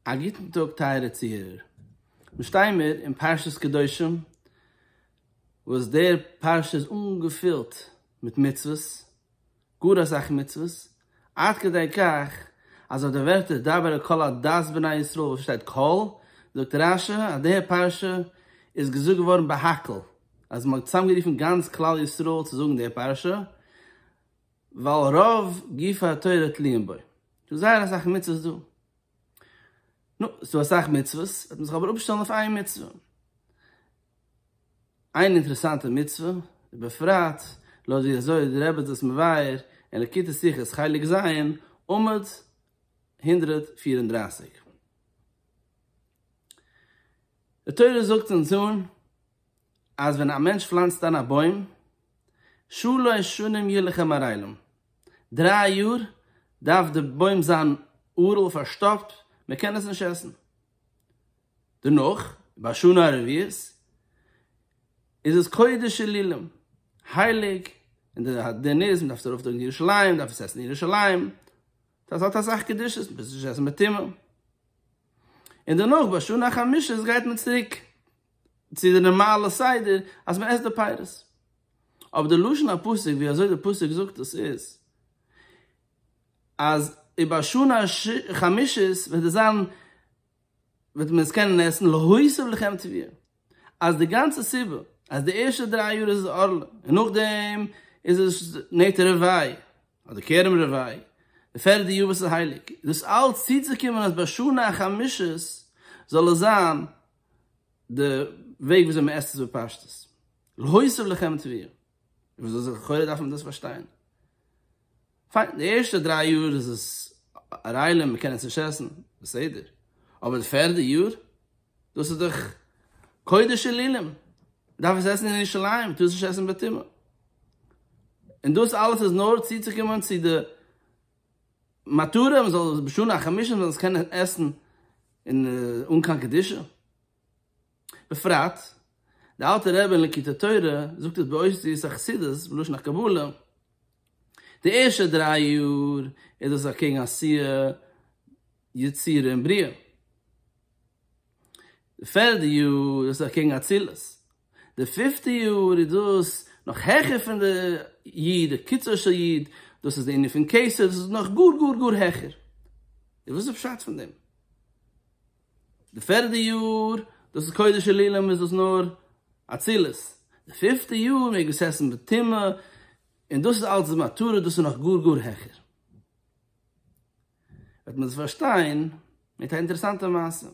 א גוטן טאג טייערע צוהערער, מיר שטייען מיר אין פרשת קדושים, וואס דער פרשה איז אנגעפילט מיט מצוות, גאר אסאך מצוות, עד כדי כך אז אויף די ווערטער דבר אל כל עדת בני ישראל וואס שטייט כל, זאגט רש י אז די פרשה איז געזאגט געווארן בהקהל, אז מען האט צוזאמגערופן גאנץ כלל ישראל צו זאגן די פרשה, ווייל רוב גופי התורה תלויים בו, ס'איז זייער אסאך מצוות דא. נו, ס'איז דא אסאך מצוות, וועט מען זיך אבער אפשטעלן אויף איין מצוה. איין אינטערעסאנטע מצוה, ובפרט לויט ווי אזוי די רבי האט דאס מבאר אין ליקוטי שיחות חלק ז', עמוד הונדרעט פֿיר און דרײַסיק. די תורה זאגט אונז אן. אז ווען א מענטש פלאנצט איין א בוים, שלש שנים ילך מרעילים, דריי יאר דארף די בוים זיין ארעל פארשטאפט, מען קען עס נישט עסן. דערנאך ביי שנה הרביעית איז עס קודש אלילים, הייליג, און די דין איז מען דארף עס ארויפטראגן קיין ירושלים, מען דארף עס עסן אין ירושלים, דאס האט אסאך קדושות, מען טאר עס נישט עסן מטעמים. און דערנאך ביי שנה החמישית גייט מען צוריק. צו די נארמאלע סדר אז מען עסט די פירות, אבער די לשון הפסוק ווי אזוי די פסוק זאגט עס איז, אז איבער שנה חמישית וועט עס זיין, וועט מען עס קענען עסן להוסיף לחם טביה, אז די גאנצע סיבה אז די ערשטע דריי יאר איז עס ערלה און נאכדעם איז עס נטע רבי' אדער כרם רבי', די פערדע יאר וואס איז הייליג, דאס אלץ צוצוקומען אז ביי שנה חמישית זאל עס זיין די וועג וויאזוי מען עסט עס בפשטות, להוסיף לחם טריה, וויאזוי זאל לכאורה דארף מען דאס פארשטיין, פיין די ערשטע דריי יאר איז עס א ריילע מען קען עס נישט עסן, בסדר, אבער די פערדע יאר, דאס איז דאך קודש אלילים, מען דארף עס עסן אין ירושלים, מען טאר עס נישט עסן בטומאה, און דאס אלעס איז נאר צוצוקומען צו די. מטרה מען זאל בשנה החמישית מען זאל עס קענען עסן אין אן קיין קדושה, בפרט די אלטע רבי אין ליקוטי תורה זאגט עס באושיות החסידות בלשון הקבלה, די ערשטע דריי יאר איז דאס אקעגן עשיה יצירה און בריאה. די פערדע יאר איז דאס אקעגן אצילות, די פיפטע יאר איז דאס נאך העכער פון די י', די קיצור של י', דאס איז די ענין פון כסף, דאס איז נאך גאר גאר גאר העכער. איז וואס איז פשט פון דעם? די פערדע יאר דאס איז קודש עלילים איז דאס נאר אצילות, די פיפטע יאר מעג מען עס עסן בטומאה, און דאס איז אלץ די מטרה, דאס איז נאך גאר גאר העכער. וועט מען עס פארשטיין מיט א אינטערעסאנטע מעשה.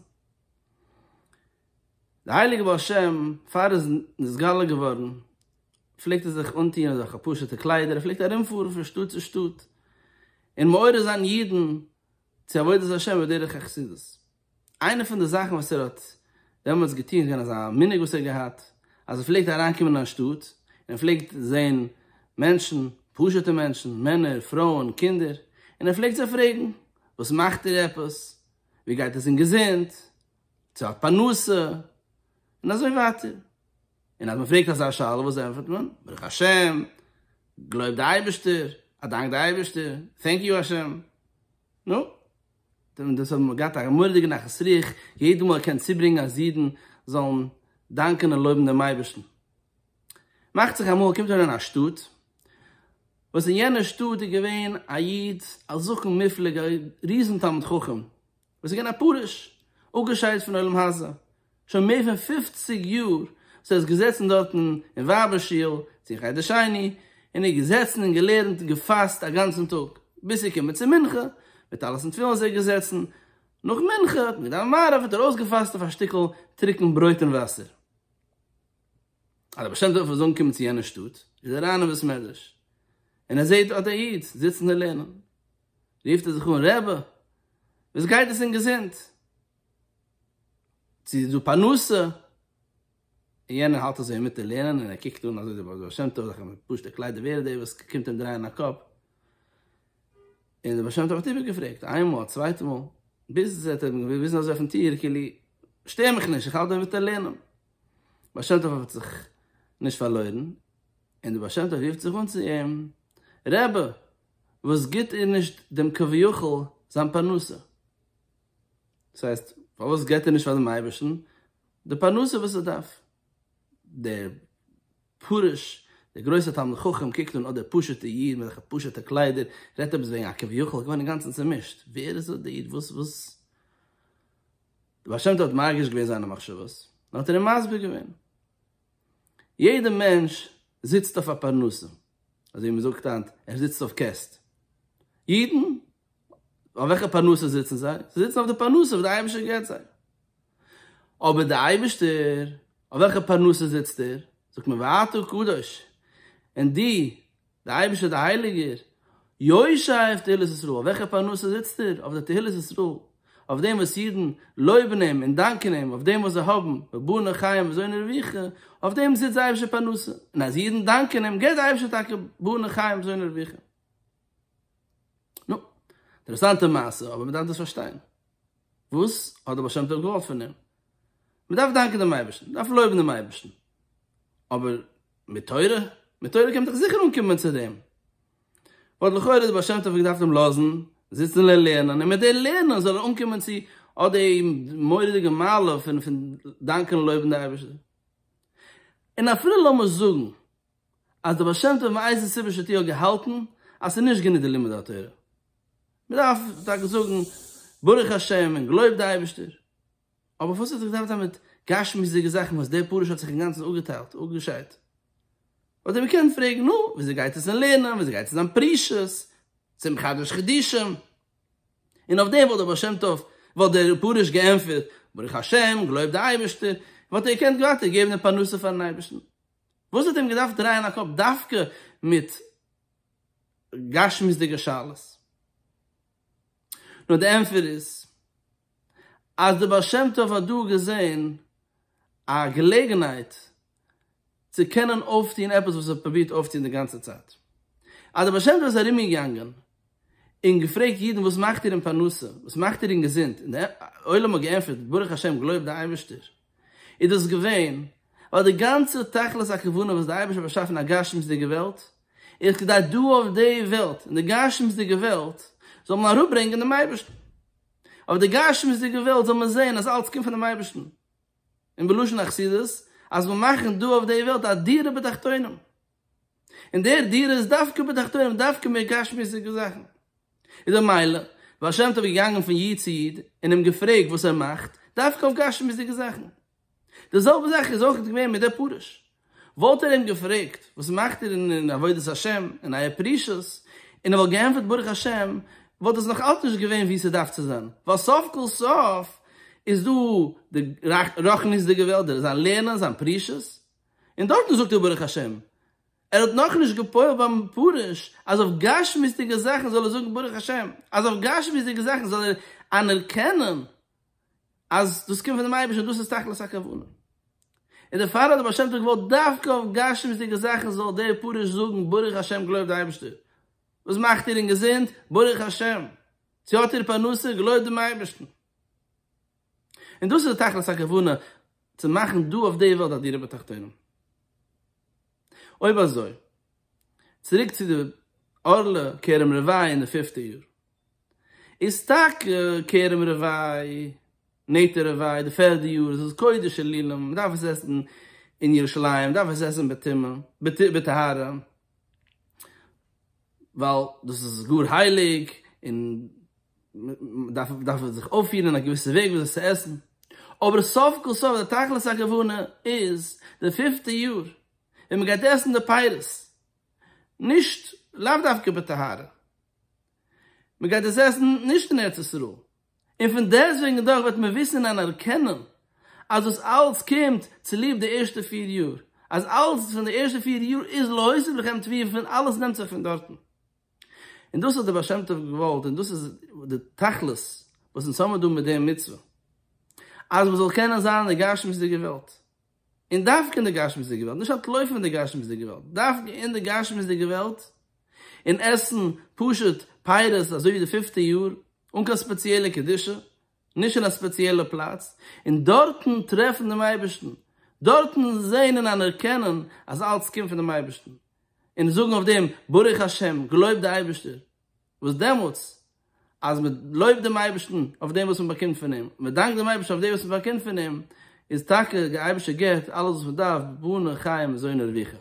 די הייליגע בעל שם פאר ער איז נתגלה געווארן פלעגט ער זיך אנטוהן אזעלכע פשוטע קליידער, ער פלעגט ארום פארן פון שטאט צו שטאט און מעורר זיין אידן צו עבודת השם בדרך החסידות. איינע פון די זאכן וואס ער האט דעמאלטס געטון איז געווען אז א מנהג וואס ער האט געהאט אז ער פלעגט אריין קומען אין א שטאט און ער פלעגט זען מענטשן, פשוטע מענטשן, מענער, פרויען, קינדער, און ער פלעגט זיי פרעגן, וואס מאכט איר עפעס? ווי גייט עס אין געזונט? צו האט פרנסה? און אזוי ווייטער. און אז מען פרעגט אזא שאלה וואס ענטפערט מען? ברוך השם, געלויבט די אייבערשטער, א דאנק די אייבערשטער, טענק יו השם. נו. און דאס האט געהאט א מורא'דיגע נחת רוח, יעדע מאל ער קען צוברענגען אז אידן זאלן דאנקען און לויבן דעם אייבערשטן. מאכט זיך אמאל ער קומט אריין אין א שטאט, וואס אין יענע שטאט איז געווען א איד א זקן מופלג, א ריזן תלמיד חכם, וואס איז געווען א פרוש, אפגעשיידט פון עולם הזה, שוין מער פון פופציג יאר וואס ער איז געזעצן דארטן אין ווייבער שול צו חדר שני און איז געזעצן און געלערנט און געפאסט א גאנצן טאג ביז צו קומען צו מנחה, מיט עלות און תפילין איז ער געזעצן, נאך מנחה האט מען געדאווענט מעריב האט ער אויסגעפאסט אויף א שטיקל טרוקן ברויט און וואסער, אז די בעל שם טוב וועט זאלן קומען צו יענע שטאט, איז ער אריין אין בית מדרש און ער זעט אט א איד זיצן און לערנען, רופט ער זיך אן רבי וואס גייט עס אין געזונט? צו איז דא פרנסה, און יענער האלט אזוי אינמיטן לערנען און ער קוקט אן אזוי די בעל שם טוב זיך מיט פשוטע קליידער ווער איז דער וואס קומט אים דרייען א קאפ, און דער בעל שם טוב האט איבערגעפרעגט איין מאל צווייטע מאל, ביז ער האט אים געוויזן אזוי אויפן טיר כאילו שטער מיך נישט איך האלט דא אינמיטן לערנען, בעל שם טוב האט זיך נישט פארלוירן און דער בעל שם טוב רופט זיך אן צו אים, רבי וואס גיט איר נישט דעם כביכול זיין פרנסה? דאס הייסט, פארוואס געבט ער נישט פאר דעם אייבערשטן די פרנסה וואס ער דארף? דער פרוש, דער גרויסער תלמיד חכם, קוקט אן אט דער פשוט'ער איד מיט אזעלכע פשוט'ע קליידער, רעדט עפעס וועגן א כביכול, געווארן אינגאנצן צעמישט, ווער איז אט דער איד? וואס, וואס? דער בעל שם טוב האט מרגיש געווען זיינע מחשבות, און האט ער אים מסביר געווען. יעדער מענטש זיצט אויף א פרנסה, אזוי ווי מען זאגט היינט, ער זיצט אויף קעסט. אידן, אויף וועלכע פרנסה זיצן זיי? זיי זיצן אויף די פרנסה וואס דער אייבערשטער געבט זיי. אבער דער אייבערשטער, אויף וועלכע פרנסה זיצט ער? זאגט מען ואתה קדוש, און דו דער אייבערשטער דער הייליגער יושע אויף תהילות ישראל, אויף וועלכע פרנסה זיצט ער? אויף די תהילות ישראל, אויף דעם וואס אידן לויבן אים און דאנקען אים אויף דעם וואס זיי האבן, בבנה חיים וזונה רווחה, אויף דעם זיצט זיי אייבערשטער פרנסה, און אז אידן דאנקען אים געבט דער אייבערשטער טאקע בבנה חיים וזונה רווחה. נו, אינטערעסאנטע מעשה, אבער מען דארף דאס פארשטיין. וואס האט דער בעל שם טוב געוואלט פון אים? מען דארף דאנקען דעם אייבערשטן, מען דארף לויבן דעם אייבערשטן, אבער מיט תורה? מיט תורה קען מען דאך זיכער אנקומען צו דעם. וואלט לכאורה דער בעל שם טוב געדארפט אים לאזן זיצן לערנען, און מיט דעם לערנען זאל ער אנקומען צו אט די מורא'דיגע מעלה פון דאנקען און לויבן די אייבערשטער. און אפילו לאמיר זאגן אז דער בעל שם טוב מאיזה סיבה שתהיה האט געהאלטן אז ס'איז נישט גענוג די לימוד התורה, מ'דארף טאקע זאגן ברוך השם און גלויב די אייבערשטער, אבער וואס האט עס געדארפט זיין מיט גשמיות'דיגע זאכן וואס דער פרוש האט זיך אינגאנצן אפגעטיילט, אפגעשיידט? וואלט ער געקענט פרעגן, נו, וויאזוי גייט עס אין לערנען, וויאזוי גייט עס אין זיין פרישות, צום חדש חידושים? און אויף דעם וואלט דער בעל שם טוב, וואלט דער פרוש געענטפערט ברוך השם, גלויב די אייבערשטער, און מ'וואלט אים געקענט ווייטער געבן די פרנסה פארן אייבערשטן. וואס האט אים געדארפט דרייען א קאפ דווקא מיט גשמיות'דיגע שאלות? נו די ענטפער איז אז די בעל שם טוב האט דא געזען א געלעגנהייט צו קענען אויפטוהן עפעס וואס ער האט פרובירט אויפטוהן די גאנצע צייט. אז די בעל שם טוב איז ארומגעגאנגען און געפרעגט אידן וואס מאכט איר אין פרנסה? וואס מאכט איר אין געזונט? און די עולם האט געענטפערט ברוך השם גלויב די אייבערשטער. איז דאס געווען ווייל די גאנצע תכלית הכוונה וואס דער אייבערשטער האט באשאפן א גשמיות'דיגע וועלט איז כדי דא אויף די וועלט, אין די גשמיות'דיגע וועלט, זאל מען אראפברענגען דעם אייבערשטן. אויף די גשמיות'דיגע וועלט זאל מען זען אז אלץ קומט פונעם אייבערשטן, און בלשון החסידות אז מיר מאכן דא אויף די וועלט א דירה בתחתונים, און דער דירה איז דווקא בתחתונים, דווקא מער גשמיות'דיגע זאכן. איז דער מיידל, בעל שם טוב איז געגאנגען פון איד צו איד און אים געפרעגט וואס ער מאכט, דווקא אויף גשמיות'דיגע זאכן. די זעלבע זאך איז אויך געווען מיט דער פרוש. וואלט ער אים געפרעגט, וואס מאכט איר אין עבודת השם, אין אייער פרישות, און ער וואלט געענטפערט ברוך השם, וואלט עס נאך אלץ נישט געווען ווי ס'דארף צו זיין. ווייל סוף כל סוף איז דא די רחניות'דיגע וועלט, דער זיין לערנען, זיין פרישות. און דארטן זאגט ער ברוך השם. ער האט נאכנישט געפועלט ביים פרוש אז אויף גשמיות'דיגע זאכן זאל ער זאגן ברוך השם, אז אויף גשמיות'דיגע זאכן זאל ער אנערקענען אז דאס קומט פון דעם אייבערשטן, דאס איז תכלית הכוונה. און דערפאר האט דער בעל שם טוב געוואלט דווקא אויף גשמיות'דיגע זאכן זאל דער פרוש זאגן ברוך השם געלויבט די אייבערשטער וואס מאכט איר אינגעזונט, ברוך השם צו האט איר פרנסה, געלויבט דעם אייבערשטן. און דאס איז די תכלית הכוונה צו מאכן דא אויף די וועלט א דירה בתחתונים. אויב אזוי, צוריק צו די ארלע כרם רבי' אין די פיפטע יאר. איז טאקע כרם רבי', נטע רבי', די פערדע יאר איז עס קודש עלילים, מען דארף עס עסן אין ירושלים, מען דארף עס עסן בטומאה, בטהרה, ווייל דאס איז גאר הייליג און דארף דארף מען זיך אויפפירן אין א געוויסע וועג ווי אזוי צו עסן, אבער סוף כל סוף די תכלית הכוונה איז די פינפטע יאר ווען מען גייט עסן די פירות, נישט לאו דווקא בטהרה, מען גייט עס עסן נישט אין ארץ ישראל, און פון דעסטוועגן דאך וועט מען וויסן און אנערקענען אז דאס אלץ קומט צוליב די ערשטע פיר יאר, אז אלץ פון די ערשטע פיר יאר איז להוסיף לכם טפיר פון אלעס נעמט זיך פון דארטן. און דאס האט דער בעל שם טוב געוואלט און דאס איז די תכלית וואס אונז האמיר דא מיט די מצוה, אז מען זאל קענען זיין אין די גשמיות'דיגע וועלט און דווקא אין די גשמיות'דיגע וועלט, נישט אנטלויפן פון די גשמיות'דיגע וועלט, דווקא אין די גשמיות'דיגע וועלט, און עסן פשוט פירות אזוי ווי די פיפטע יאר, אן קיין ספעציעלע קדושה, נישט אין א ספעציעלע פלאץ, און דארטן טרעפן דעם אייבערשטן, דארטן זען און אנערקענען אז אלץ קומט פון דעם אייבערשטן, און זאגן אויף דעם ברוך השם, געלויבט די אייבערשטער. וואס דעמאלטס אז מען לויבט דעם אייבערשטן אויף דעם וואס מען באקומט פון אים, מען דאנקט דעם אייבערשטן אויף דעם וואס מען באקומט פון אים, איז טאקע דער אייבערשטער געבט אלעס וואס מען דארף, בנה חיים זוינער וויכער.